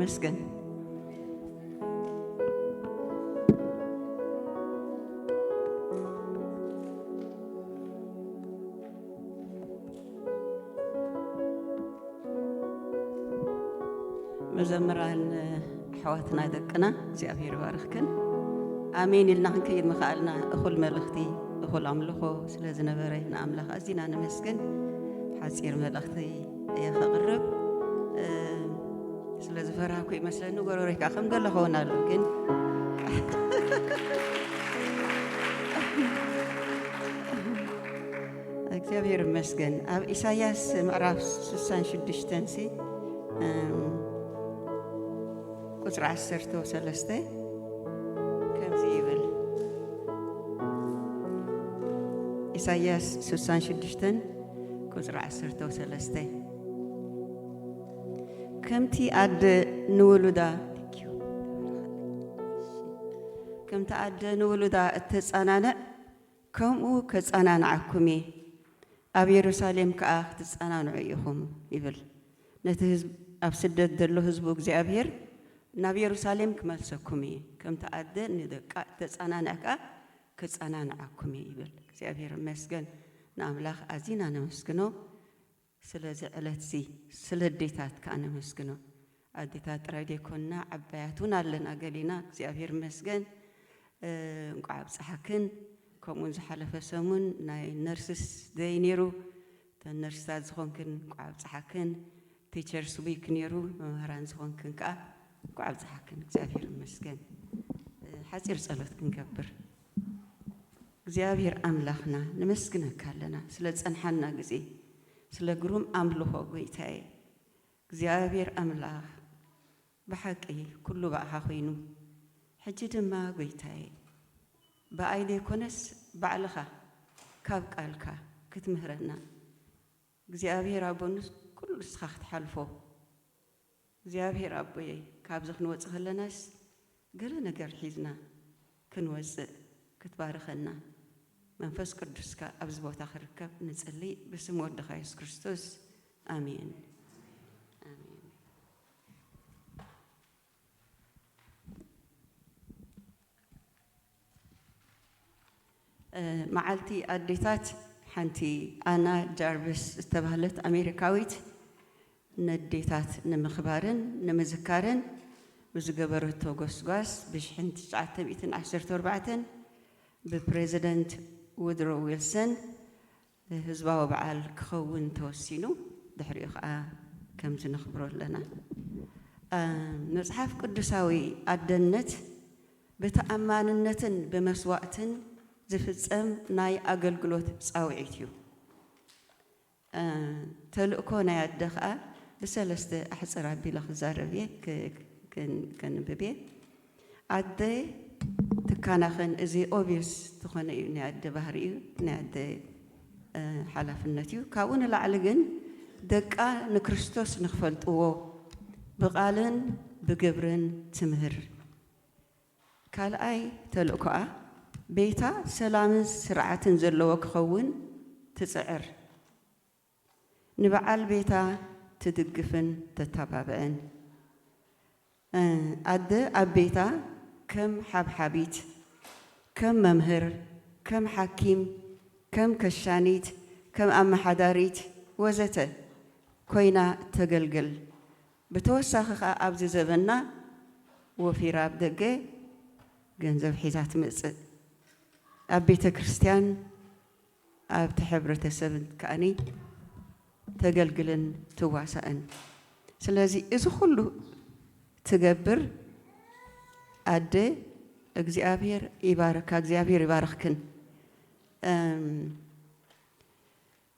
መስገን መዘምራን ኣሕዋትና ደቅና እግዚኣብሔር ይባርኽክን ኣሜን ኢልና ክንከይድ ምኽኣልና እኹል መልእኽቲ እኹል ኣምልኾ ስለ ዝነበረ ንኣምላኽ ኣዚና ነመስግን ሓፂር መልእኽቲ የኸቕርብ ስለ ዝፈራህኩ ይመስለኒ ጎረቤት ከዓ ከም ዘሎ ኸውን ኣሎ ግን እግዚኣብሔር ይመስገን ኣብ ኢሳያስ ምዕራፍ 66 ሲ ቁፅሪ 1 ሰለስተ ከምዚ ይብል ኢሳያስ 66 ቁጽሪ ዓሰርተ ወሰለስተ ከምቲ ኣደ ንውሉዳ ከምቲ ኣደ ንውሉዳ እተጻናንዕ ከምኡ ከጻናንዓኩም እየ ኣብ የሩሳሌም ከኣ ክትጻናንዑ ኢኹም ይብል ነቲ ህዝብ ኣብ ስደት ዘሎ ህዝቡ እግዚኣብሔር ናብ የሩሳሌም ክመልሰኩም እየ ከምቲ ኣደ ንደቃ እተጻናንዕ ከኣ ክጸናንዓኩም እዩ ይብል እግዚኣብሔር ይመስገን ንኣምላኽ ኣዚና ነመስግኖ ስለዚ ዕለትዚ ስለ ኣዴታት ከኣ ነመስግኖ ኣዴታት ጥራይ ዘይኮና ዓባያት ውን ኣለና ገሊና እግዚኣብሔር ይመስገን እንቋዕ ኣብጽሓክን ከምኡውን ዝሓለፈ ሰሙን ናይ ነርስስ ደይ ኔሩ እተን ነርስታት ዝኾንክን እንቋዕ ኣብጽሓክን ቲቸርስ ዊክ ኔሩ መማህራን ዝኾንክን ከኣ እንቋዕ ኣብጽሓክን እግዚኣብሄር ይመስገን ሓጺር ጸሎት ክንገብር እግዚኣብሄር ኣምላኽና ነመስግነካ ኣለና ስለ ዝጸንሓና ግዜ ስለ ግሩም ኣምልኾ ጎይታየ እግዚኣብሄር ኣምላኽ ብሓቂ ኩሉ ብኣኻ ኮይኑ ሕጂ ድማ ጎይታየ ብኣይ ዘይኮነስ ባዕልኻ ካብ ቃልካ ክትምህረና እግዚኣብሄር ኣቦ ንኩሉ ንስኻ ክትሓልፎ እግዚኣብሄር ኣቦየ ካብዚ ክንወጽእ ከለናስ ገለ ነገር ሒዝና ክንወጽእ ክትባርኸና መንፈስ ቅዱስካ ኣብዚ ቦታ ክርከብ ንጽሊ ብስም ወድኻ የሱስ ክርስቶስ ኣሜን። መዓልቲ ኣዴታት ሓንቲ ኣና ጃርቪስ ዝተባህለት ኣሜሪካዊት ነዴታት ንምኽባርን ንምዝካርን ብዝገበረቶ ጎስጓስ ብ ሽሕን ትሽዓተ ሚእትን ዓሰርተ ኣርባዕተን ብፕረዚደንት ውድሮ ዊልሰን ህዝባዊ በዓል ክኸውን ተወሲኑ ድሕሪኡ ከኣ ከምዚ ነኽብሮ ኣለና። መጽሓፍ ቅዱሳዊ ኣደነት ብተኣማንነትን ብመስዋእትን ዝፍጸም ናይ ኣገልግሎት ጻውዒት እዩ። ተልእኮ ናይ ኣደ ከኣ ብሰለስተ ኣሕጽር ኣቢለ ክዛረብ እየ ከንብብ እየ ኣደ ትካናኸን እዚ ኦብዩስ ዝኾነ እዩ ናይ ኣደ ባህሪ እዩ ናይ ኣደ ሓላፍነት እዩ ካብኡ ንላዕሊ ግን ደቃ ንክርስቶስ ንክፈልጥዎ ብቃልን ብግብርን ትምህር ካልኣይ ተልእኮኣ፣ ቤታ ሰላምን ስርዓትን ዘለዎ ክኸውን ትጽዕር፣ ንበዓል ቤታ ትድግፍን ተተባብዕን። ኣደ ኣብ ቤታ ከም ሓብሓቢት፣ ከም መምህር፣ ከም ሓኪም፣ ከም ከሻኒት፣ ከም ኣመሓዳሪት ወዘተ ኮይና ተገልግል፣ ብተወሳኺ ከኣ ኣብዚ ዘበንና ወፊራ ኣብ ደገ ገንዘብ ሒዛ ትመጽእ ኣብ ቤተ ክርስቲያን ኣብቲ ሕብረተሰብ ከኣ ተገልግልን ትዋሳእን ስለዚ እዚ ኩሉ ትገብር ኣደ እግዚኣብሔር ይባርካ እግዚኣብሔር ይባርኽክን።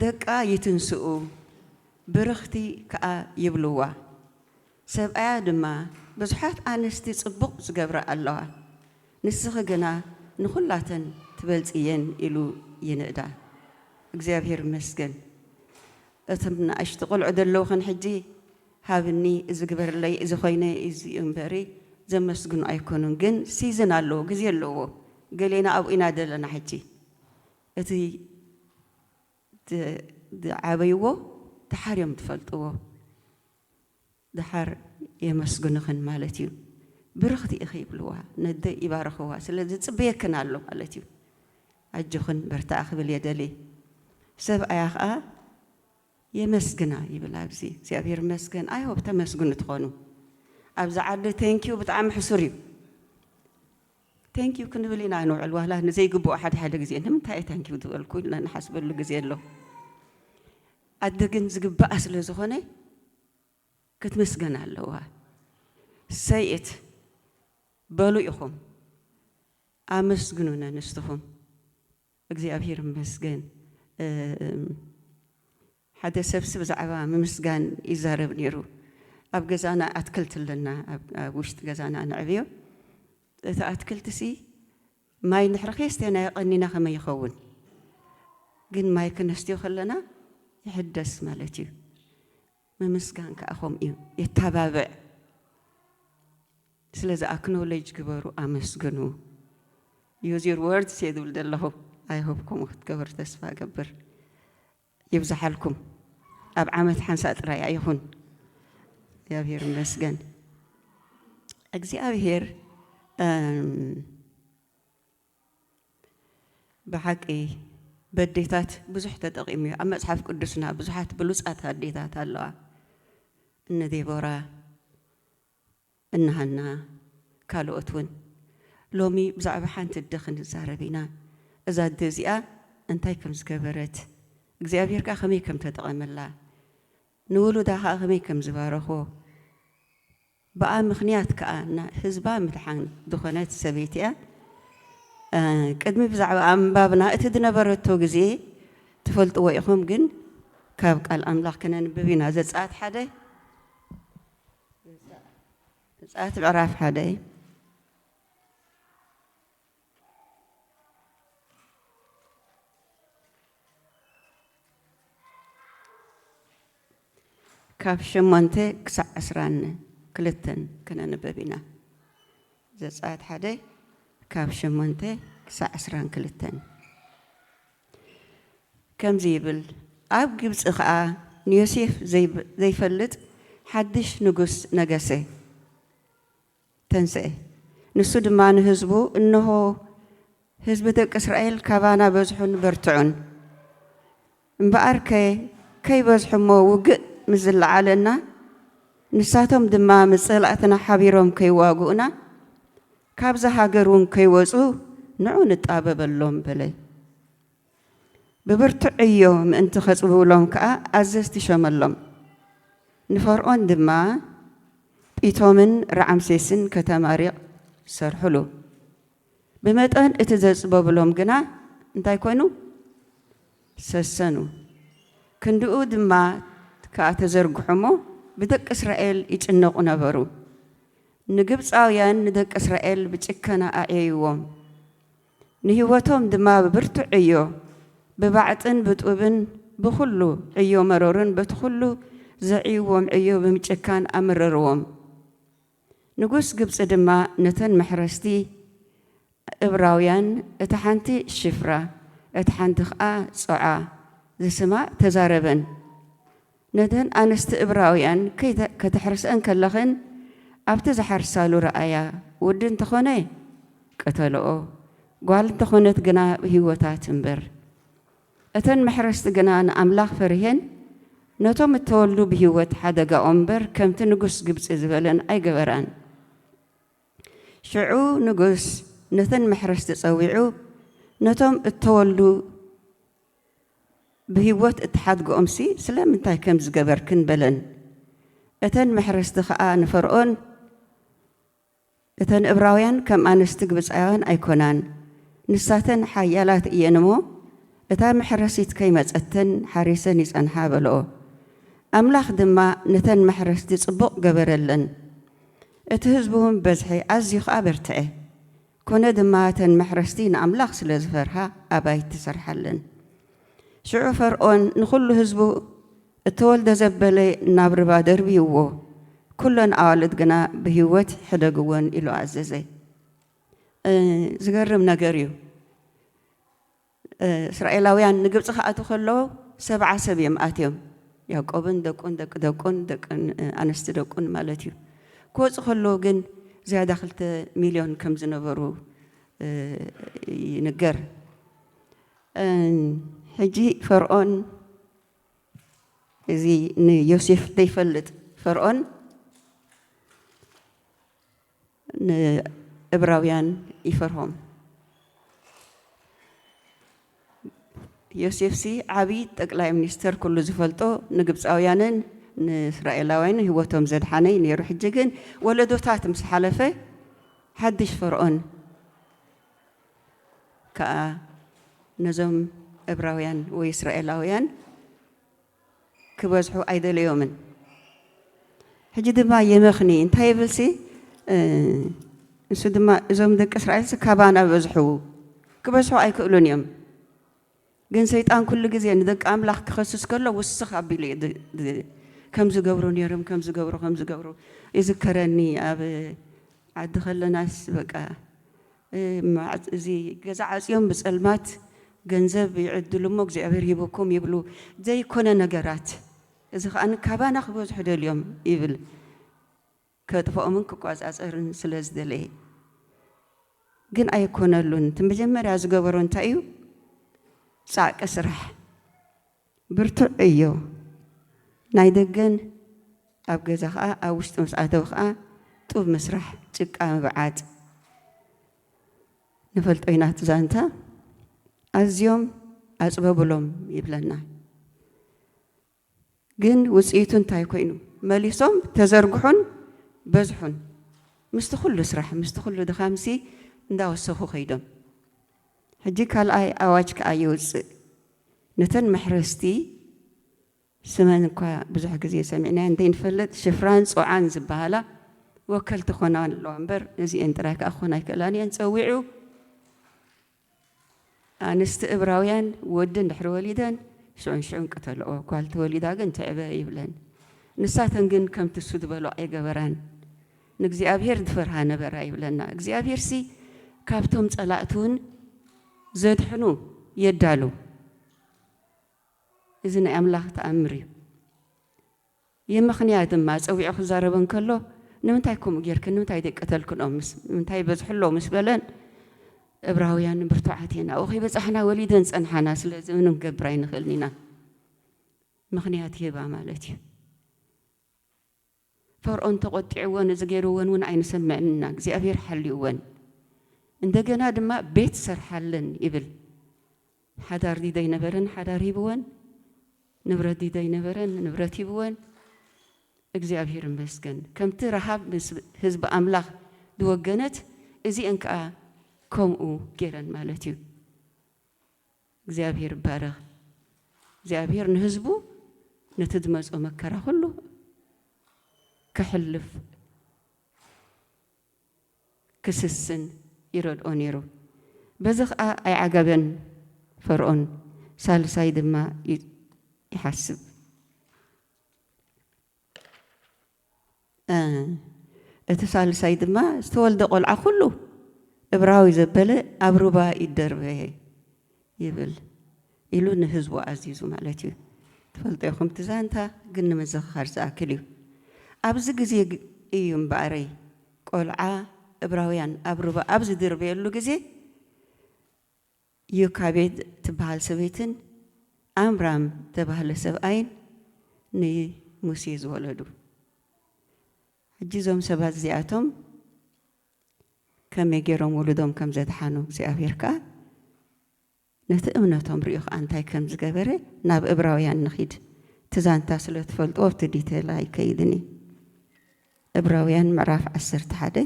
ደቃ ይትንስኡ፣ ብርኽቲ ከኣ ይብልዋ። ሰብኣያ ድማ፣ ብዙሓት ኣንስቲ ጽቡቕ ዝገብራ ኣለዋ፣ ንስኺ ግና ንኹላተን ትበልጽየን ኢሉ ይንእዳ። እግዚኣብሔር ይመስገን፣ እቶም ንኣሽቱ ቆልዑ ዘለዉኽን ሕጂ፣ ሃብኒ፣ እዚ ግበርለይ፣ እዚ ኮይነ፣ እዚ እዩ እምበሪ፣ ዘመስግኑ ኣይኮኑን። ግን ሲዝን ኣለዎ፣ ግዜ ኣለዎ፣ ገሌና ኣብኡ ኢና ዘለና ሕጂ። እቲ ዝዓበይዎ ደሓር እዮም ዝፈልጥዎ ደሓር የመስግኑኽን ማለት እዩ ብርኽቲ ኢኺ ይብልዋ ነደይ ይባርኽዋ ስለዚ ዝፅበየክን ኣሎ ማለት እዩ ኣጆኽን በርትዓ ክብል እየ ደልየ ሰብኣያ ኸዓ የመስግና ይብል ኣብዚ እግዚኣብሔር ይመስገን ኣይ ሆፕ ተመስግኑ ትኾኑ ኣብዚ ዓዲ ቴንኪው ብጣዕሚ ሕሱር እዩ Thank you ክንብል ኢና ንውዕል ዋላ ንዘይግብኦ ሓደ ሓደ ግዜ ንምንታይ እየ ታንኪው ዝበልኩ ኢልና ንሓስበሉ ግዜ ኣሎ ኣደ ግን ዝግብኣ ስለ ዝኾነ ክትምስገን ኣለዋ ሰይት በሉ ኢኹም ኣመስግኑነ ንስትኹም እግዚኣብሄር ይመስገን ሓደ ሰብሲ ብዛዕባ ምምስጋን ይዛረብ ነይሩ። ኣብ ገዛና ኣትክልቲ ኣለና፣ ኣብ ውሽጢ ገዛና ነዕብዮ። እቲ ኣትክልቲሲ ማይ ንሕሪ ከየስተናዮ ቀኒና ከመይ ይኸውን? ግን ማይ ክነስትዮ ከለና ይሕደስ ማለት እዩ። ምምስጋን ከኣ ከምኡ እዩ፣ የተባብዕ። ስለዚ ኣክኖለጅ ግበሩ፣ ኣመስግኑ። ዩዝ ዩር ወርድስ እየ ዝብል ዘለኹ። ኣይ ሆፕ ከምኡ ክትገብሩ ተስፋ እገብር። ይብዛሓልኩም ኣብ ዓመት ሓንሳእ ጥራይ ኣይኹን። እግዚኣብሔር ይመስገን እግዚኣብሔር ብሓቂ በዴታት ብዙሕ ተጠቂሙ እዩ ኣብ መጽሓፍ ቅዱስና ብዙሓት ብሉጻት ኣዴታት ኣለዋ እነ ዴቦራ እንሃና ካልኦት ውን ሎሚ ብዛዕባ ሓንቲ ኣደ ክንዛረብ ኢና እዛ ኣደ እዚኣ እንታይ ከም ዝገበረት እግዚኣብሄር ከኣ ከመይ ከም ተጠቐመላ ንውሉዳ ከኣ ከመይ ከም ዝባረኾ ብኣ ምኽንያት ከኣ ናይ ህዝባ ምድሓን ዝኾነት ሰበይቲ እያ ቅድሚ ብዛዕባኣ ምንባብና እቲ ዝነበረቶ ግዜ ትፈልጥዎ ኢኹም ግን ካብ ቃል ኣምላኽ ክነንብብ ኢና ዘጸኣት ሓደ ዘጸኣት ምዕራፍ ሓደ ካብ ሸሞንተ ክሳዕ ዕስራን ክልተን ክነንበብ ኢና ዘጸኣት ሓደ ካብ ሸሞንተ ክሳዕ ዕስራን ክልተን ከምዚ ይብል፣ ኣብ ግብጺ ኸኣ ንዮሴፍ ዘይፈልጥ ሓድሽ ንጉስ ነገሰ፣ ተንስኤ። ንሱ ድማ ንህዝቡ፣ እንሆ፣ ህዝቢ ደቂ እስራኤል ካባና በዝሑን በርትዑን። እምበኣርከ ከይበዝሑ እሞ ውግእ ምስ ዝለዓለና፣ ንሳቶም ድማ ምስ ጸላእትና ሓቢሮም ከይዋግኡና፣ ካብዛ ሃገር እውን ከይወጹ ንዑ ንጣበበሎም በለ። ብብርቱዕ ዕዮ ምእንቲ ኼጽብብሎም ከኣ ኣዘዝቲ ሾመሎም። ንፈርኦን ድማ ጲቶምን ራዓምሴስን ከተማ ሪቕ ሰርሑሉ። ብመጠን እቲ ዘጽበቡሎም ግና እንታይ ኰኑ? ሰሰኑ። ክንድኡ ድማ ከኣ ተዘርግሑ እሞ ብደቂ እስራኤል ይጭነቑ ነበሩ። ንግብጻውያን ንደቂ እስራኤል ብጭከና ኣዕየይዎም፣ ንህይወቶም ድማ ብብርቱዕ ዕዮ፣ ብባዕጥን ብጡብን፣ ብዅሉ ዕዮ መሮርን በቲ ዅሉ ዘዕይዎም ዕዮ ብምጭካን ኣመረርዎም። ንጉስ ግብጺ ድማ ነተን መሕረስቲ እብራውያን፣ እታ ሓንቲ ሺፍራ፣ እታ ሓንቲ ኸኣ ጾዓ ዝስማ ተዛረበን። ነተን ኣንስቲ እብራውያን ከተሕርስኤን ከለኽን ኣብቲ ዝሓርሳሉ ረኣያ፣ ወዲ እንተ ኾነ ቅተልኦ፣ ጓል እንተ ኾነት ግና ኣብ ህይወታ ትንበር። እተን መሕረስቲ ግና ንኣምላኽ ፈሪሔን ነቶም እተወልዱ ብህይወት ሓደጋኦም እምበር ከምቲ ንጉስ ግብጺ ዝበለን ኣይገበራን። ሽዑ ንጉስ ነተን መሕረስቲ ጸዊዑ ነቶም እተወልዱ። ብህይወት እትሓድግኦምሲ ስለምንታይ ከምዚ ገበርክን? በለን። እተን መሕረስቲ ኸኣ ንፈርኦን፣ እተን እብራውያን ከም ኣንስቲ ግብጻውያን ኣይኰናን፣ ንሳተን ሓያላት እየን እሞ፣ እታ መሕረሲት ከይመጸተን ሓሪሰን ይጸንሓ በልኦ። ኣምላኽ ድማ ነተን መሕረስቲ ጽቡቕ ገበረለን፣ እቲ ህዝቢውን በዝሐ፣ ኣዝዩ ኸኣ በርትዐ። ኰነ ድማ፣ እተን መሕረስቲ ንኣምላኽ ስለ ዝፈርሃ ኣባይቲ ሰርሓለን። ሽዑ ፈርኦን ንዅሉ ህዝቡ፣ እተወልደ ዘበለ ናብ ርባ ደርብይዎ፣ ኵለን ኣዋልድ ግና ብህይወት ሕደግወን ኢሉ ኣዘዘ። ዝገርም ነገር እዩ! እስራኤላውያን ንግብጺ ክኣትዉ ከለዉ ሰብዓ ሰብ እዮም ኣትዮም፣ ያእቆብን ደቁን ደቂ ደቁን ደቂ ኣንስቲ ደቁን ማለት እዩ። ክወጹ ከለዉ ግን ዝያዳ ክልተ ሚልዮን ከም ዝነበሩ ይንገር። ሕጂ ፈርኦን እዚ ንዮሴፍ ዘይፈልጥ ፈርኦን ንእብራውያን ይፈርሆም። ዮሴፍሲ ዓብዪ ጠቅላይ ሚኒስተር ኩሉ ዝፈልጦ ንግብፃውያንን ንእስራኤላውያንን ህይወቶም ዘድሓነ እዩ ነይሩ። ሕጂ ግን ወለዶታት ምስ ሓለፈ ሓድሽ ፈርኦን ከዓ ነዞም እብራውያን ወይ እስራኤላውያን ክበዝሑ ኣይደለዮምን ሕጂ ድማ የመኽኒ እንታይ ይብልሲ ንሱ ድማ እዞም ደቂ እስራኤልሲ ካባና በዝሑ ክበዝሑ ኣይክእሉን እዮም ግን ሰይጣን ኩሉ ግዜ ንደቂ ኣምላኽ ክኸስስ ከሎ ውስኽ ኣቢሉ እዩ ከም ዝገብሩ ነይሮም ከም ዝገብሩ ከም ዝገብሩ ይዝከረኒ ኣብ ዓዲ ከለናስ በቃ እዚ ገዛ ዓጽዮም ብጸልማት ገንዘብ ይዕድሉ እሞ እግዚኣብሔር ሂቡኩም ይብሉ ዘይኮነ ነገራት እዚ ከኣ ካባና ክበዝሑ ደልዮም ይብል ከጥፍኦምን ክቆጻጸርን ስለ ዝደለየ ግን ኣይኮነሉን እቲ መጀመርያ ዝገበሮ እንታይ እዩ ጻዕቂ ስራሕ ብርቱዕ ዕዮ ናይ ደገን ኣብ ገዛ ከኣ ኣብ ውሽጢ ምስ ኣተው ከኣ ጡብ ምስራሕ ጭቃ ምብዓጥ ንፈልጦ ኢና እቲ ዛንታ ኣዝዮም ኣጽበብሎም ይብለና ግን ውጽኢቱ እንታይ ኮይኑ መሊሶም ተዘርግሑን በዝሑን ምስቲ ኩሉ ስራሕ ምስቲ ኩሉ ድኻምሲ እንዳወሰኹ ከይዶም ሕጂ ካልኣይ ኣዋጅ ከኣ ይውጽእ። ነተን መሕረስቲ ስመን እኳ ብዙሕ ግዜ ሰሚዕናየን ዘይንፈልጥ ሽፍራን ጾዓን ዝበሃላ ወከልቲ ክኾና ኣለዋ እምበር ነዚኤን ጥራይ ከኣ ክኾና ኣይክእላን እየን ጸዊዑ ኣንስቲ እብራውያን ወዲ እንድሕሪ ወሊደን ሽዑንሽዑን ቅተልኦ ጓል ተወሊዳ ግን ትዕበ ይብለን ንሳተን ግን ከምቲ እሱ ዝበሎ ኣይገበራን ንእግዚኣብሄር ዝፈርሃ ነበራ ይብለና። እግዚኣብሄርሲ ካብቶም ጸላእቱውን ዘድሕኑ የዳሉ። እዚ ናይ ኣምላኽ ተኣምር እዩ። የመኽንያ ድማ ጸዊዑ ክዛረበን ከሎ ንምንታይ ከምኡ ጌርክን ንምንታይ ዘይቀተልክኖም ምስ ንምንታይ በዝሕሎ ምስ በለን እብራውያን ብርቱዓት እየን ኣብኡ ከይበጻሕና ወሊደን ጸንሓና ስለዚ ምንም ክገብር ኣይንኽእልን ኢና ምኽንያት ሂባ ማለት እዩ ፈርኦን ተቆጢዕወን እዚ ገርወን ውን ኣይንሰምዕን እና እግዚኣብሔር ሓልዩወን እንደገና ድማ ቤት ሰርሓለን ይብል ሓዳር ዲደይ ነበረን ሓዳር ሂብወን ንብረት ዲደይ ነበረን ንብረት ሂብወን እግዚኣብሔር ይመስገን ከምቲ ረሃብ ምስ ህዝቢ ኣምላኽ ድወገነት እዚኤን ከኣ ከምኡ ገይረን ማለት እዩ። እግዚኣብሄር ይባረኽ እግዚኣብሄር ንህዝቡ ነቲ ዝመጾ መከራ ኩሉ ከሕልፍ ክስስን ይረድኦ ነይሩ በዚ ከኣ ኣይዓገበን ፈርኦን ሳልሳይ ድማ ይሓስብ። እቲ ሳልሳይ ድማ ዝተወልደ ቆልዓ ኩሉ እብራዊ ዘበለ ኣብ ሩባ ይደርበ ይብል ኢሉ ንህዝቡ ኣዚዙ ማለት እዩ። ትፈልጦ ኢኹም እቲ ዛንታ ግን ንምዝኽኻር ዝኣክል እዩ። ኣብዚ ግዜ እዩ እምበኣረይ ቆልዓ እብራውያን ኣብ ሩባ ኣብ ዝድርበየሉ ግዜ ዮካቤድ ትበሃል ሰበይትን ዓምራም ዝተባህለ ሰብኣይን ንሙሴ ዝወለዱ። ሕጂ እዞም ሰባት እዚኣቶም ከመይ ገይሮም ውሉዶም ከም ዘድሓኑ፣ እግዚኣብሄር ከኣ ነቲ እምነቶም ርእዩ ከኣ እንታይ ከም ዝገበረ ናብ እብራውያን ንኺድ። እቲ ዛንታ ስለ ትፈልጥዎ ኣብቲ ዲተይል ኣይከይድን እየ። እብራውያን ምዕራፍ ዓሰርተ ሓደ።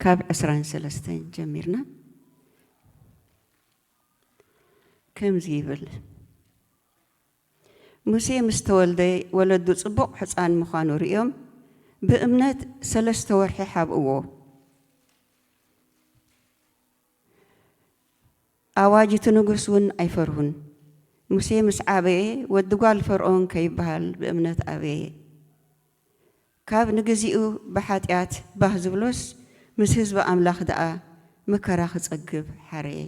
ካብ ዕስራን ሰለስተን ጀሚርና ከምዚ ይብል ሙሴ ምስ ተወልደ ወለዱ ጽቡቕ ሕፃን ምዃኑ ርእዮም ብእምነት ሰለስተ ወርሒ ሓብእዎ። ኣዋጅ እቲ ንጉስ እውን ኣይፈርሁን። ሙሴ ምስ ዓበየ፣ ወዲ ጓል ፈርኦን ከይበሃል ብእምነት ኣበየ። ካብ ንግዜኡ ብሓጢኣት ባህ ዝብሎስ፣ ምስ ህዝቢ ኣምላኽ ደኣ መከራ ክጸግብ ሓረየ።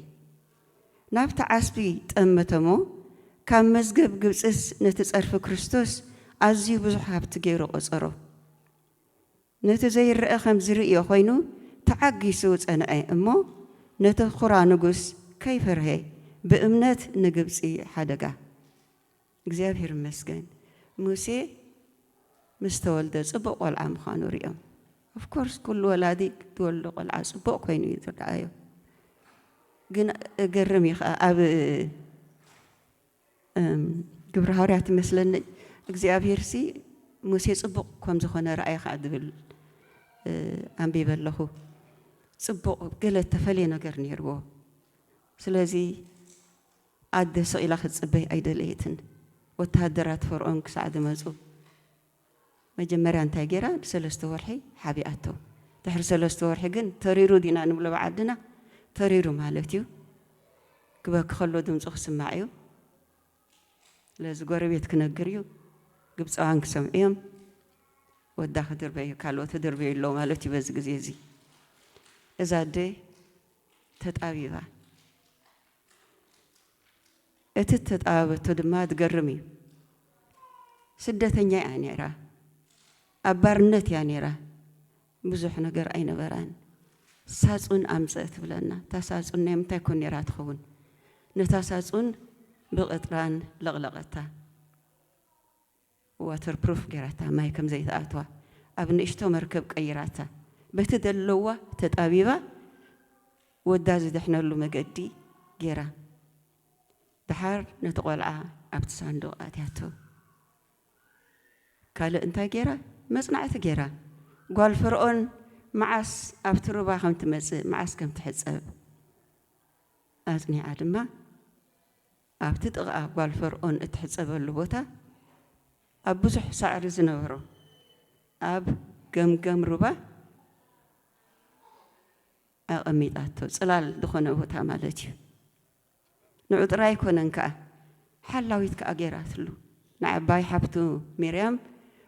ናብቲ ዓስቢ ጠመተ'ሞ፣ ካብ መዝገብ ግብጽስ ነቲ ጸርፊ ክርስቶስ ኣዝዩ ብዙሕ ሃብቲ ገይሩ ቈጸሮ። ነቲ ዘይረኣ ከም ዝርእዮ ኮይኑ ተዓጊሱ ጸንዐ እሞ ነቲ ኹራ ንጉስ ከይፈርሀ ብእምነት ንግብጺ ሓደጋ። እግዚኣብሔር ይመስገን ሙሴ ምስ ተወልደ ጽቡቅ ቆልዓ ምዃኑ ሪኦም of course ኩሉ ወላዲ ትወልዶ ቆልዓ ጽቡቅ ኮይኑ እዩ ዝረኣዮ ግን እገርም እዩ ከኣ ኣብ ግብሪ ሃዋርያት ይመስለኒ እግዚኣብሄርሲ ሙሴ ጽቡቕ ከም ዝኾነ ረኣየ ኸኣ ዝብል ኣንቢበ ኣለኹ። ጽቡቕ ገለ እተፈልየ ነገር ነይርዎ። ስለዚ ኣደ ስቕ ኢላ ክትጽበይ ኣይደለየትን፣ ወተሃደራት ፈርኦን ክሳዕ ዝመጹ። መጀመርያ እንታይ ጌራ ንሰለስተ ወርሒ ሓቢኣቶ ድሕሪ ሰለስተ ወርሒ ግን ተሪሩ ዲና ንብሎ ብዓድና ተሪሩ ማለት እዩ ክበኪ ከሎ ድምጹ ክስማዕ እዩ ስለዚ ጎረቤት ክነግር እዩ ግብጻውያን ክሰምዑ እዮም ወዳ ክድርበ እዩ ካልኦት ክድርበዩ ኣሎ ማለት እዩ በዚ ግዜ እዚ እዛ ኣደ ተጣቢባ እቲ እተጠባበቶ ድማ ዝገርም እዩ። ስደተኛ እያ ነይራ፣ ኣብ ባርነት እያ ነይራ፣ ብዙሕ ነገር ኣይነበራን። ሳጹን ኣምጽእ ትብለና፣ እታ ሳጹን ናይ ምንታይ ኮን ነይራ ትኸውን? ነታ ሳጹን ብቕጥራን ለቕለቐታ። ዋተር ፕሩፍ ጌራታ ማይ ከም ዘይትኣትዋ ኣብ ንእሽቶ መርከብ ቀይራታ በቲ ዘለዋ ተጣቢባ ወዳ ዝድሕነሉ መገዲ ጌራ ደሓር ነቲ ቆልዓ ኣብቲ ሳንዱቕ ኣእትያቶ ካልእ እንታይ ጌራ መጽናዕቲ ጌራ ጓል ፈርኦን መዓስ ኣብቲ ሩባ ከም ትመጽእ መዓስ ከም ትሕጸብ ኣጽኒዓ ድማ ኣብቲ ጥቓ ጓል ፈርኦን እትሕጸበሉ ቦታ፣ ኣብ ብዙሕ ሳዕሪ ዝነበሮ ኣብ ገምገም ሩባ ኣቐሚጣቶ፣ ጽላል ዝኾነ ቦታ ማለት እዩ። ንዑ ጥራይ ኣይኮነን ከኣ፣ ሓላዊት ከኣ ገይራትሉ። ንዓባይ ሓብቱ ሚርያም፣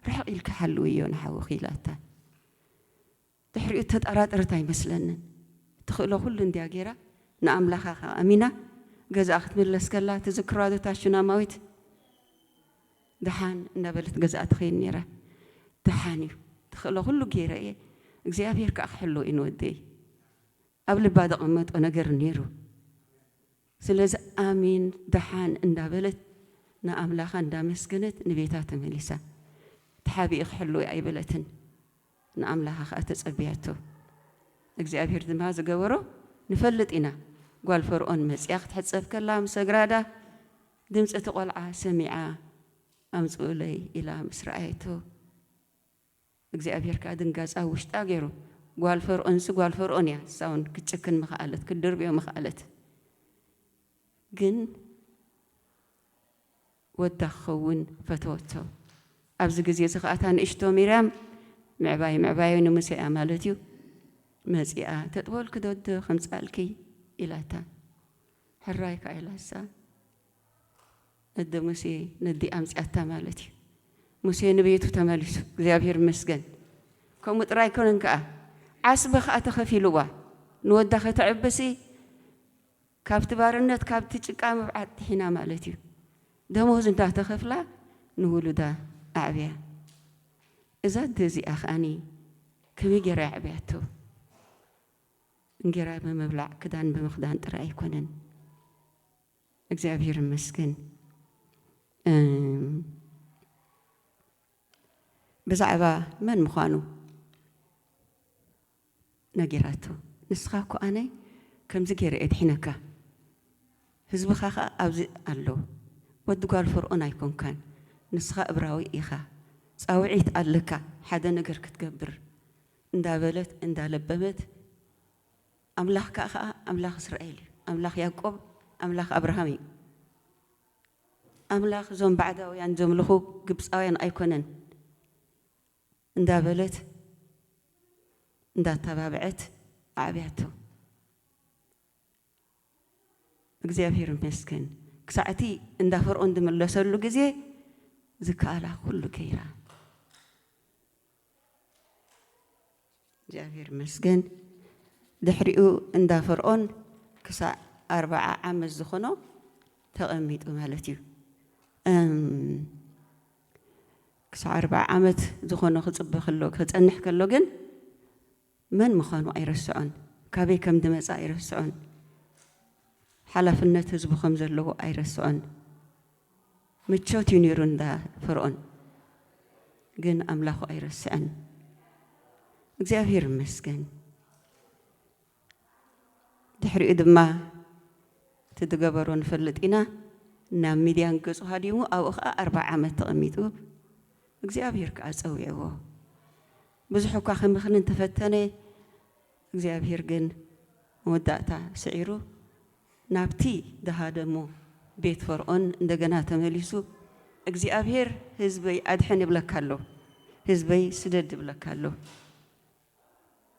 ርሕቕ ኢልኪ ሓልውዮ ንሓውኺ ኢላታ። ድሕሪኡ እተጣራጠረት ኣይመስለንን እትኽእሎ ኩሉ እንድያ ጌራ ንኣምላኻ ከኣ ኣሚና ገዝኣ ክትምለስ ከላ ትዝክርዋዶ እታ ሹናማዊት ድሓን እንዳበለት ገዝኣ ትኸይድ ኔራ ድሓን እዩ ትኽእሎ ኩሉ ጌረ እየ እግዚኣብሄር ከኣ ክሕልዎ እዩ ንወደይ ኣብ ልባ ዘቐመጦ ነገር ኔሩ ስለዚ ኣሜን ድሓን እንዳበለት ንኣምላኻ እንዳመስገነት ንቤታ ተመሊሳ ተሓቢኡ ክሕልዎ እዩ ኣይበለትን ንኣምላኻ ኸኣ ተጸብያቶ። እግዚኣብሄር ድማ ዝገበሮ ንፈልጥ ኢና፣ ጓል ፈርኦን መጺኣ ክትሕጸብ ከላ ምስ ሰግራዳ፣ ድምጺ እቲ ቈልዓ ሰሚዓ ኣምጽኡለይ ኢላ ምስ ረኣየቶ፣ እግዚኣብሄር ከኣ ድንጋጸ ኣብ ውሽጣ ገይሩ። ጓል ፈርኦንሲ ጓል ፈርኦን እያ፣ ንሳ ውን ክትጭክን ምኸኣለት፣ ክትድርብዮ ምኸኣለት። ግን። ወዳ ክኸውን ፈተወቶ። ኣብዚ ግዜ እዚ ኸኣ እታ ንእሽቶ ሚርያም፣ ምዕባይ ምዕባዮ ንሙሴ እያ ማለት እዩ፣ መጺኣ ተጥቦልኪ ዶ'ዶ ከምጽኣልኪ? ኢላታ። ሕራይ ከኣ ኢላሳ፣ ነደ ሙሴ ነዲኣ ኣምጺኣታ ማለት እዩ። ሙሴ ንቤቱ ተመሊሱ፣ እግዚኣብሄር ይመስገን። ከምኡ ጥራይ ኣይኮነን ከኣ፣ ዓስቢ ኸኣ ተኸፊሉዋ፣ ንወዳ ከተዕብሲ፣ ካብቲ ባርነት ካብቲ ጭቃ ምብዓት ዲሒና ማለት እዩ ደሞዝ እንዳተከፍላ ንውሉዳ ኣዕብያ እዛ ኣደ እዚኣ ከኣኒ ከመይ ጌራ የዕብያቶ እንጌራ ብምብላዕ ክዳን ብምክዳን ጥራይ ኣይኮነን እግዚኣብሔር ይመስገን እም ብዛዕባ መን ምኳኑ። ነጊራቶ ንስኻ እኮ ኣነ ከምዚ ጌረ እየ ድሒነካ ህዝብኻ ከኣ ኣብዚ ኣሎ ወዲ ጓል ፈርኦን ኣይኮንካን ንስኻ እብራዊ ኢኻ ጻውዒት ኣለካ ሓደ ነገር ክትገብር እንዳበለት እንዳለበመት ኣምላኽካ ከኣ ኣምላኽ እስራኤል እዩ ኣምላኽ ያእቆብ ኣምላኽ ኣብርሃም እዩ ኣምላኽ እዞም ባዕዳውያን ዘምልኹ ግብጻውያን ኣይኮነን እንዳበለት እንዳተባብዐት ኣዕብያቶ። እግዚኣብሄር ይመስገን ክሳዕ እቲ እንዳ ፈርኦን ዝምለሰሉ ግዜ ዝከኣላ ኩሉ ገይራ። እግዚኣብሄር ይመስገን ድሕሪኡ እንዳ ፈርኦን ክሳዕ ኣርብዓ ዓመት ዝኾኖ ተቐሚጡ ማለት እዩ። ክሳዕ ኣርብዓ ዓመት ዝኾኖ ክጽበ ከሎ ከጸንሕ ከሎ ግን መን ምዃኑ ኣይረስዖን ካበይ ከም ድመጸ ኣይረስዖን ሓላፍነት ህዝቡ ከም ዘለዎ ኣይረስዖን ምቾት እዩ ነይሩ እንዳ ፈርኦን ግን ኣምላኹ ኣይረስዐን እግዚኣብሔር ይመስገን። ድሕሪኡ ድማ እቲ ዝገበሮ ንፈልጥ ኢና ናብ ሚድያን ገጹ ሃዲሙ ኣብኡ ከኣ ኣርብዓ ዓመት ተቐሚጡ እግዚኣብሄር ከኣ ጸዊዕዎ ብዙሕ እኳ ክምኽን እንተፈተነ እግዚኣብሄር ግን መወዳእታ ስዒሩ ናብቲ ዝሃደሞ ቤት ፈርዖን እንደገና ተመሊሱ እግዚኣብሄር ህዝበይ ኣድሕን ይብለካ ኣሎ ህዝበይ ስደድ ይብለካ ኣሎ።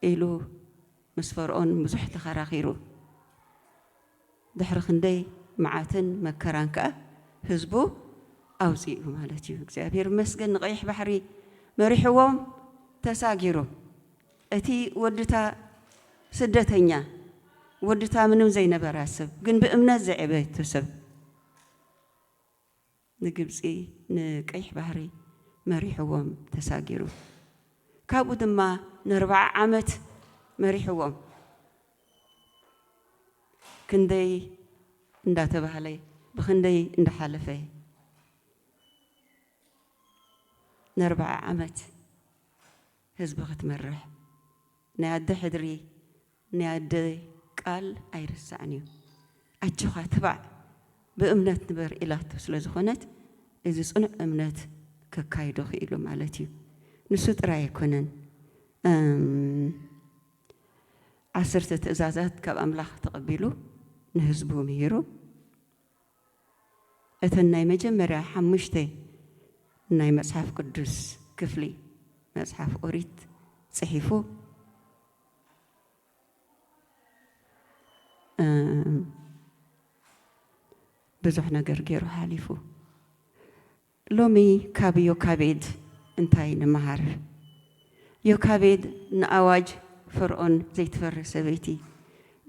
ኢሉ ምስ ፈርኦን ብዙሕ ተኸራኺሩ። ድሕሪ ክንደይ መዓትን መከራን ከኣ ህዝቡ ኣውጺኡ ማለት እዩ። እግዚኣብሄር ይመስገን ንቀይሕ ባሕሪ መሪሕዎም ተሳጊሩ። እቲ ወድታ ስደተኛ ወድታ ምንም ዘይነበራ ስብ ግን ብእምነት ዝዔበየቶ ስብ። ንግብጺ ንቀይሕ ባሕሪ መሪሕዎም ተሳጊሩ ካብኡ ድማ ነርባዓ ዓመት መሪሕዎም ክንደይ እንዳተባህለ ብክንደይ እንዳሓለፈ ነርባዓ ዓመት ህዝቢ ክትመርሕ ናይ ኣደ ሕድሪ ናይ ኣደ ቃል ኣይርሳዕን እዩ ኣጆኻ ትባዕ ብእምነት ንበር ኢላቶ ስለ ዝኾነት እዚ ጽኑዕ እምነት ከካይዶ ክኢሉ ማለት እዩ ንሱ ጥራይ ኣይኮነን እም ዓሰርተ ትእዛዛት ካብ ኣምላኽ ተቐቢሉ ንህዝቡ ምሂሩ እተን ናይ መጀመርያ ሓሙሽተ ናይ መጽሓፍ ቅዱስ ክፍሊ መጽሓፍ ኦሪት ጽሒፉ ብዙሕ ነገር ገይሩ ሓሊፉ ሎሚ ካብ ዮካቤድ እንታይ ንመሃር? ዮካቤድ ንኣዋጅ ፈርኦን ዘይትፈርህ ሰበይቲ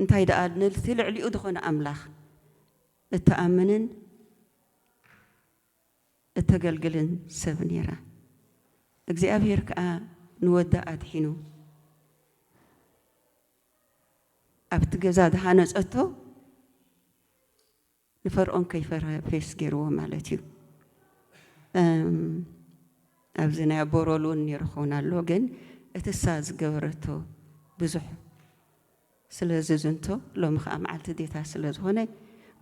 እንታይ ደኣ ነቲ ልዕሊኡ ዝኾነ ኣምላኽ እትኣምንን እተገልግልን ሰብ ነይራ። እግዚኣብሄር ከኣ ንወዳ ኣድሒኑ ኣብቲ ገዛ ዝሃነጸቶ ንፈርኦን ከይፈርሀ ፌስ ገይርዎ ማለት እዩ። ኣብዚ ናይ ኣቦ ሮል እውን ነይሩ ክኸውን ኣሎ ግን እትሳ ዝገበረቶ ብዙሕ ስለ ዝዝንቶ ሎሚ ከኣ መዓልቲ ዴታ ስለ ዝኾነ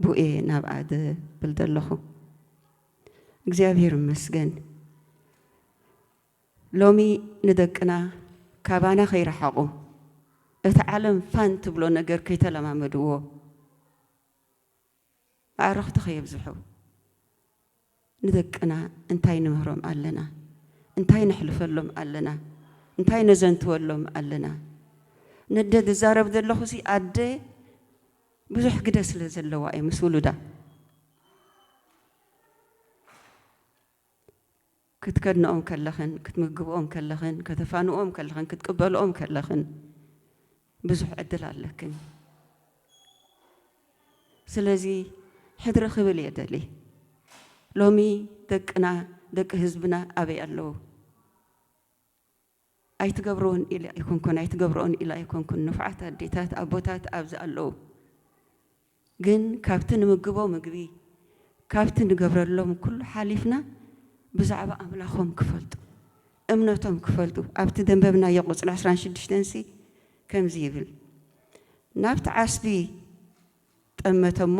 ብኡ እየ ናብኣ ዝብል ዘለኹ። እግዚኣብሔር ይመስገን ሎሚ ንደቅና ካባና ከይረሓቑ እቲ ዓለም ፋን ትብሎ ነገር ከይተለማመድዎ፣ ኣዕርኽቲ ከየብዝሑ ንደቅና እንታይ ንምህሮም ኣለና? እንታይ ነሕልፈሎም ኣለና? እንታይ ነዘንትወሎም ኣለና? ነደ ዝዛረብ ዘለኹሲ ኣደ ብዙሕ ግደ ስለ ዘለዋ እየ ምስ ውሉዳ። ክትከድንኦም ከለኽን፣ ክትምግብኦም ከለኽን፣ ከተፋንዎም ከለኽን፣ ክትቅበልኦም ከለኽን ብዙሕ ዕድል ኣለክን። ስለዚ ሕድሪ ክብል እየ ደልየ። ሎሚ ደቅና፣ ደቂ ህዝብና ኣበይ ኣለዉ? ኣይትገብርዎን ኢለ ኣይኮንኩን ኣይትገብርኦን ኢለ ኣይኮንኩን ንፉዓት ኣዴታት ኣቦታት ኣብዚ ኣለዉ ግን ካብቲ ንምግቦ ምግቢ ካብቲ ንገብረሎም ኩሉ ሓሊፍና ብዛዕባ ኣምላኾም ክፈልጡ እምነቶም ክፈልጡ ኣብቲ ደንበብናዮ ቁጽሪ ዕስራን ሽዱሽተን ሲ ከምዚ ይብል ናብቲ ዓስቢ ጠመተ እሞ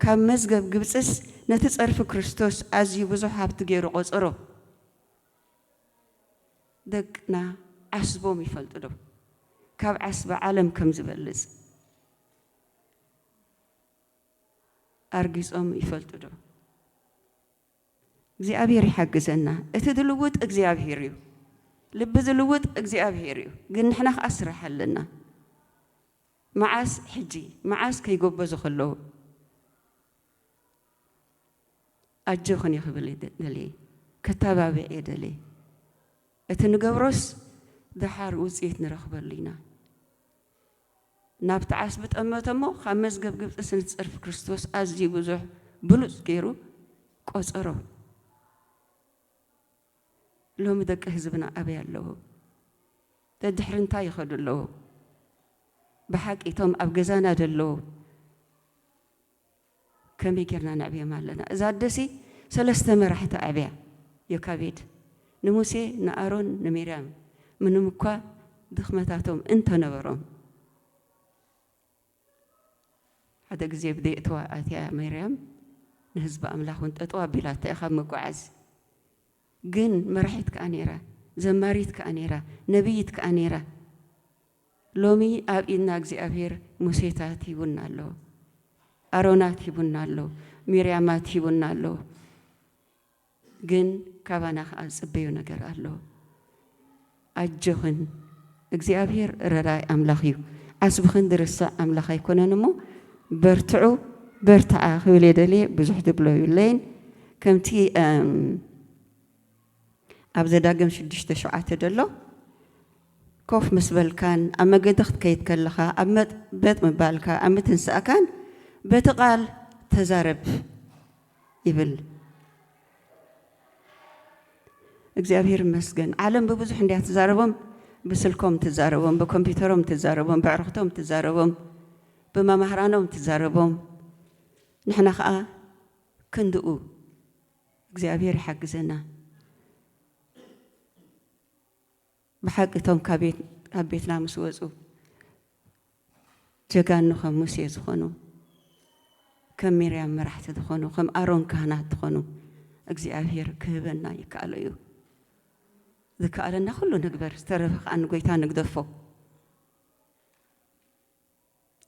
ካብ መዝገብ ግብጽስ ነቲ ጸርፊ ክርስቶስ ኣዝዩ ብዙሕ ሃብቲ ገይሩ ቆጸሮ። ደቅና ዓስቦም ይፈልጡ ዶ? ካብ ዓስቢ ዓለም ከም ዝበልጽ ኣርጊጾም ይፈልጡ ዶ? እግዚኣብሄር ይሓግዘና። እቲ ዝልውጥ እግዚኣብሄር እዩ። ልቢ ዝልውጥ እግዚኣብሄር እዩ። ግን ንሕና ከኣ ስራሕ ኣለና። መዓስ ሕጂ መዓስ ከይጎበዙ ከለዉ ኣጆኽን ክብል ደልየ ከተባብዕየ ደልየ እቲ ንገብሮስ ደሓር ውጽኢት ንረኽበሉ ኢና ናብቲ ዓስቢ ጠመተ እሞ ካብ መዝገብ ግብጺ ስም ጸርፊ ክርስቶስ ኣዝዩ ብዙሕ ብሉጽ ገይሩ ቆጸሮ ሎሚ ደቂ ህዝብና ኣበይ ኣለዉ ደድሕሪ እንታይ ይኸዱ ኣለዉ ብሓቂ እቶም ኣብ ገዛና ደለዉ ከመይ ጌርና ነዕብዮም ኣለና? እዛ ኣደሲ ሰለስተ መራሕቲ ኣዕብያ፣ ዮካቤድ፣ ንሙሴ፣ ንኣሮን፣ ንሚርያም፣ ምንም እኳ ድኽመታቶም እንተ ነበሮም። ሓደ ግዜ ኣብ ዘየእትዋ ኣትያ ሚርያም ንህዝቢ ኣምላኽ እውን ጠጠው ኣቢላቶ እያ ካብ ምጉዓዝ። ግን መራሒት ከኣ ነይራ፣ ዘማሪት ከኣ ነይራ፣ ነብይት ከኣ ነይራ። ሎሚ ኣብ ኢድና እግዚኣብሄር ሙሴታት ሂቡና ኣሎ፣ ኣሮናት ሂቡና ኣሎ፣ ሚርያማት ሂቡና ኣሎ፣ ግን ካባና ከኣ ዝጽበዮ ነገር ኣሎ። ኣጆኽን እግዚኣብሄር ረራይ ኣምላኽ እዩ፣ ዓስብኽን ዝርሳዕ ኣምላኽ ኣይኮነን እሞ በርትዑ፣ በርትዓ ክብል እየ ደልየ ብዙሕ ዝብሎ ዩለይን ከምቲ ኣብ ዘዳግም ሽዱሽተ ሸውዓተ ደሎ ኮፍ ምስ በልካን ኣብ መገዲ ክትከይድ ከለኻ ኣብ መጥበጥ ምባልካ ኣብ ምትንሳእካን በቲ ቃል ተዛረብ ይብል። እግዚኣብሔር ይመስገን ዓለም ብብዙሕ እንድያ ትዛረቦም ብስልኮም ትዛረቦም ብኮምፒውተሮም ትዛረቦም ብዕርኽቶም ትዛረቦም ብመማህራኖም ትዛረቦም ንሕና ከዓ ክንድኡ እግዚኣብሔር ይሓግዘና ብሓቂ እቶም ካብ ቤትና ምስ ወፁ ጀጋኑ ከም ሙሴ ዝኾኑ ከም ሚርያም መራሕቲ ዝኾኑ ከም ኣሮን ካህናት ዝኾኑ እግዚኣብሔር ክህበና ይከኣሎ እዩ ዝከኣለና ኩሉ ንግበር ዝተረፈ ከዓ ንጎይታ ንግደፎ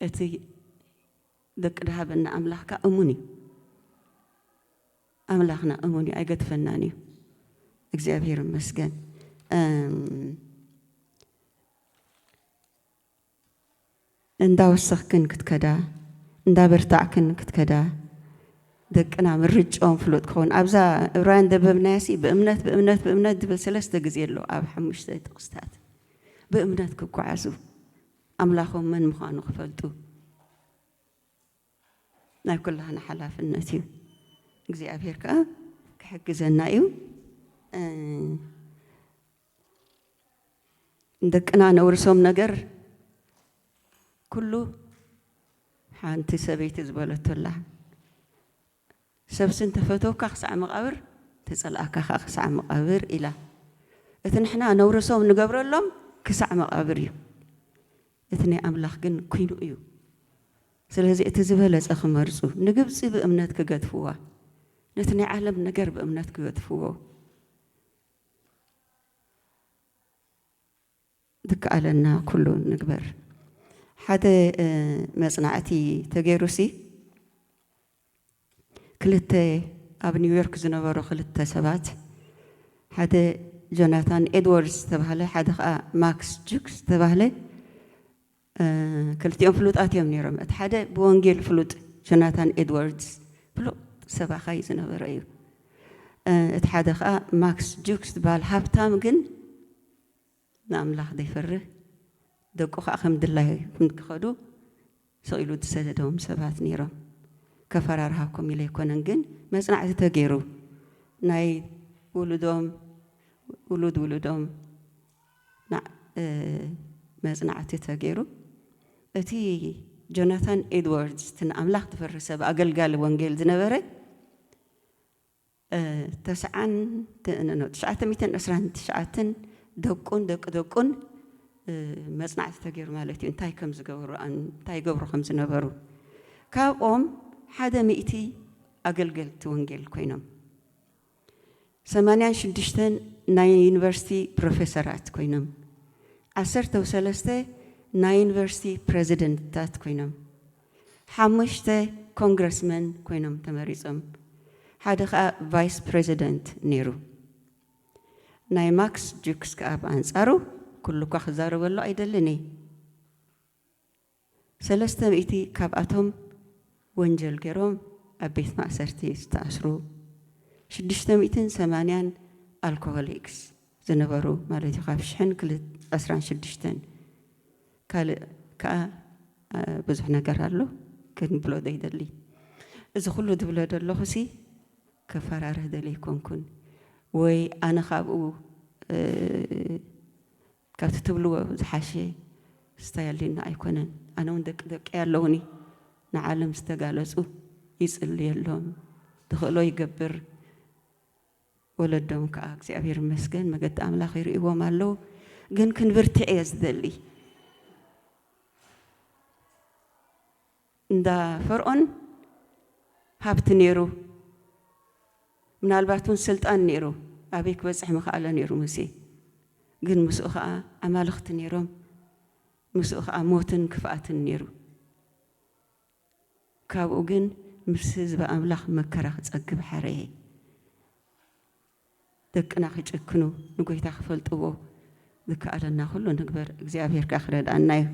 እቲ ደቂ ድሃበና ኣምላኽ ከኣ እሙን እዩ። ኣምላኽና እሙን እዩ ኣይገድፈናን እዩ። እግዚኣብሔር ይመስገን። እንዳወሰኽክን ክትከዳ እንዳበርታዕክን ክትከዳ ደቅና ምርጫኦም ፍሉጥ ክኸውን ኣብዛ እብራውያን ደበብናያሲ ብእምነት ብእምነት ብእምነት ድብል ሰለስተ ግዜ ኣሎ ኣብ ሓሙሽተ ጥቕስታት ብእምነት ክጓዓዙ ኣምላኾም መን ምዃኑ ክፈልጡ ናይ ኩላህና ሓላፍነት እዩ። እግዚኣብሔር ከኣ ክሕግዘና እዩ። ንደቅና ነውርሶም ነገር ኩሉ ሓንቲ ሰበይቲ ዝበለቶ ኣላ። ሰብሲ እንተ ፈተውካ ክሳዕ መቓብር፣ እንተ ጸልኣካ ኸኣ ክሳዕ መቓብር ኢላ። እቲ ንሕና ነውርሶም ንገብረሎም ክሳዕ መቓብር እዩ። እቲ ናይ ኣምላኽ ግን ኩይኑ እዩ። ስለዚ እቲ ዝበለጸ ክመርጹ፣ ንግብጺ ብእምነት ክገድፍዋ፣ ነቲ ናይ ዓለም ነገር ብእምነት ክገድፍዎ። ዝከኣለና ኩሉ ንግበር። ሓደ መጽናዕቲ ተገይሩሲ ክልተ ኣብ ኒውዮርክ ዝነበሩ ክልተ ሰባት ሓደ ጆናታን ኤድዎርድስ ዝተባህለ ሓደ ከኣ ማክስ ጁክ ዝተባህለ ክልቲኦም ፍሉጣት እዮም ነይሮም። እቲ ሓደ ብወንጌል ፍሉጥ ጆናታን ኤድዋርድስ ፍሉጥ ሰባኻይ እዩ ዝነበረ እዩ። እቲ ሓደ ከኣ ማክስ ጁክስ ዝበሃል ሃብታም ግን ንኣምላኽ ዘይፈርህ ደቁ ከኣ ከም ድላዩ ክኸዱ ስቕ ኢሉ ዝሰደዶም ሰባት ነይሮም። ከፈራርሃኩም ኢለ ኣይኮነን ግን መጽናዕቲ ተገይሩ ናይ ውሉዶም ውሉድ ውሉዶም መጽናዕቲ ተገይሩ እቲ ጆናታን ኤድዋርድስ እቲ ንኣምላኽ ዝፈሪ ሰብ ኣገልጋሊ ወንጌል ዝነበረ ተስዓን ት- ን- ን- ትሽዓተ ሚእትን ዕስራን ትሽዓተን ደቁን ደቂ ደቁን እ፣ መጽናዕቲ ተገይሩ ማለት እዩ እንታይ ከም ዝገበሩ ኣን- እንታይ ይገብሩ ከም ዝነበሩ ካብኦም ሓደ ሚእቲ ኣገልገልቲ ወንጌል ኮይኖም ሰማንያን ሽዱሽተን ናይ ዩኒቨርሲቲ ፕሮፌሰራት ኮይኖም፣ ዓሰርተው ሰለስተ ናይ ዩኒቨርሲቲ ፕረዚደንትታት ኮይኖም፣ ሓሙሽተ ኮንግረስመን ኮይኖም ተመሪጾም፣ ሓደ ከኣ ቫይስ ፕረዚደንት ነይሩ። ናይ ማክስ ጁክስ ከኣ ብኣንጻሩ፣ ኩሉ'ኳ ክዛረበሉ ኣይደልን እየ። ሰለስተ ሚእቲ ካብኣቶም ወንጀል ገይሮም ኣብ ቤት ማእሰርቲ ዝተኣስሩ፣ ሽዱሽተ ሚእትን ሰማንያን ኣልኮሆሊክስ ዝነበሩ ማለት እዩ፣ ካብ ሽሕን ዕስራን ሽዱሽተን። ካልእ ከኣ ብዙሕ ነገር ኣሎ ክንብሎ ዘይደሊ። እዚ ኩሉ ዝብሎ ዘለኹሲ ከፈራርህ ደልየ ኣይኮንኩን ወይ ኣነ ካብኡ ካብቲ ትብልዎ ዝሓሸ ስታይ ኣልዩና ኣይኮነን ኣነ ውን ደቂ ደቀይ ኣለውኒ ንዓለም ዝተጋለጹ ይጽልየሎም ድኽእሎ ይገብር ወለዶም ክኣ እግዚኣብሔር ይመስገን መገዲ ኣምላኽ ይርእዎም ኣለዉ ግን ክንብርትዕ እየ ዝደሊ። እንዳ ፈርኦን ሃብቲ ነይሩ ምናልባት ውን ስልጣን ነይሩ ኣበይ ክበጽሕ ምኸኣለ ነይሩ ሙሴ ግን ምስኡ ከኣ ኣማልኽቲ ነይሮም ምስኡ ከኣ ሞትን ክፍኣትን ነይሩ ካብኡ ግን ምስ ህዝቢ ኣምላኽ መከራ ክጸግብ ሓረየ። ደቅና ክጭክኑ ንጎይታ ክፈልጥዎ ዝከኣለና ኩሉ ንግበር እግዚኣብሔር ከኣ ክረድኣና እዩ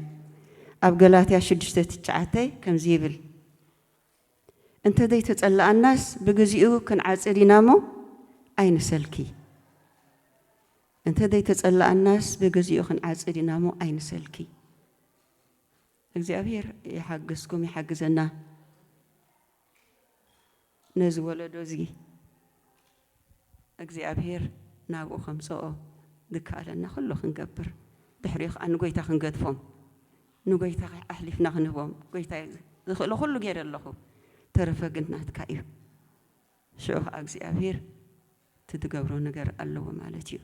ኣብ ገላትያ ሽዱሽተ ትሽዓተ ከምዚ ይብል እንተዘይተጸላኣናስ ብግዚኡ ክንዓጽድ ኢና እሞ ኣይንሰልኪ እንተዘይተጸላኣናስ ብግዚኡ ክንዓጽድ ኢና እሞ ኣይንሰልኪ እግዚኣብሔር ይሓግዝኩም ይሓግዘና። ነዚ ወለዶ እዚ እግዚኣብሄር ናብኡ ከምጽኦ ዝከኣለና ኩሉ ክንገብር ድሕሪኡ ከኣ ንጎይታ ክንገድፎም ንጎይታ ኣሕሊፍና ክንህቦም ጎይታይ ዝኽእሎ ኩሉ ጌረ ኣለኹ ተረፈ ግን ናትካ እዩ ሽዑ ከኣ እግዚኣብሄር እቲ ትገብሮ ነገር ኣለዎ ማለት እዩ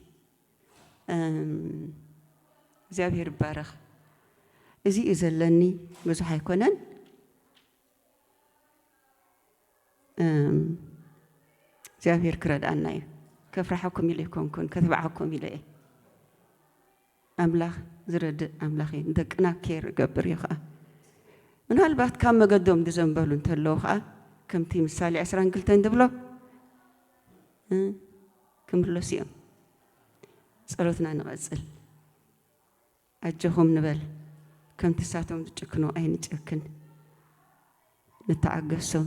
እግዚኣብሄር ይባረኽ እዚ እዩ ዘለኒ ብዙሕ ኣይኮነን። እግዚኣብሔር ክረድኣና እዩ ከፍርሓኩም ኢለ ኣይኮንኩን ከትብዓኩም ኢለ እየ ኣምላኽ ዝረድእ ኣምላኽ እዩ ንደቅና ኬር ይገብር እዩ ከዓ ምናልባት ካብ መገዶም ዝዘንበሉ እንተለዉ ከዓ ከምቲ ምሳሌ 22 ዝብሎ ክምለሱ እዮም ጸሎትና ንቐጽል ኣጆኹም ንበል ከምቲ ሳቶም ዝጭክኑ ኣይንጨክን ንተዓገሶም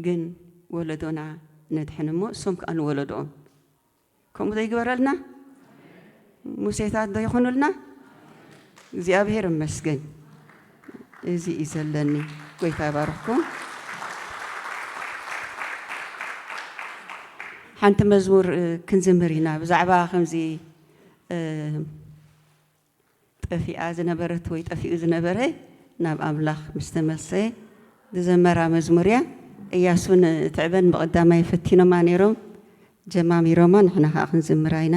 ግን ወለዶና ነድሕን እሞ እሶም ከኣ ንወለዶኦም ከምኡ ዘይግበረልና ሙሴታት ዶ ይኹኑልና እግዚኣብሔር እመስገን። እዚ እዩ ዘለኒ ጎይታ ይባርኽኩም። ሓንቲ መዝሙር ክንዝምር ኢና ብዛዕባ ከምዚ ጠፊኣ ዝነበረት ወይ ጠፊኡ ዝነበረ ናብ ኣምላኽ ምስ ተመልሰ ዝዘመራ መዝሙር እያ እያሱን ትዕበን ብቐዳማይ ፈቲኖማ ነይሮም ጀማሚሮማ ንሕና ከዓ ክንዝምራ ኢና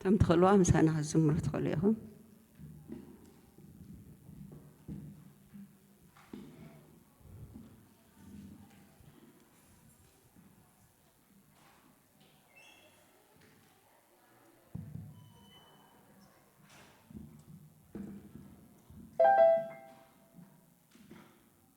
ከም ትኽእልዋ ምሳና ክትዝምሩ ትኽእሉ ኢኹም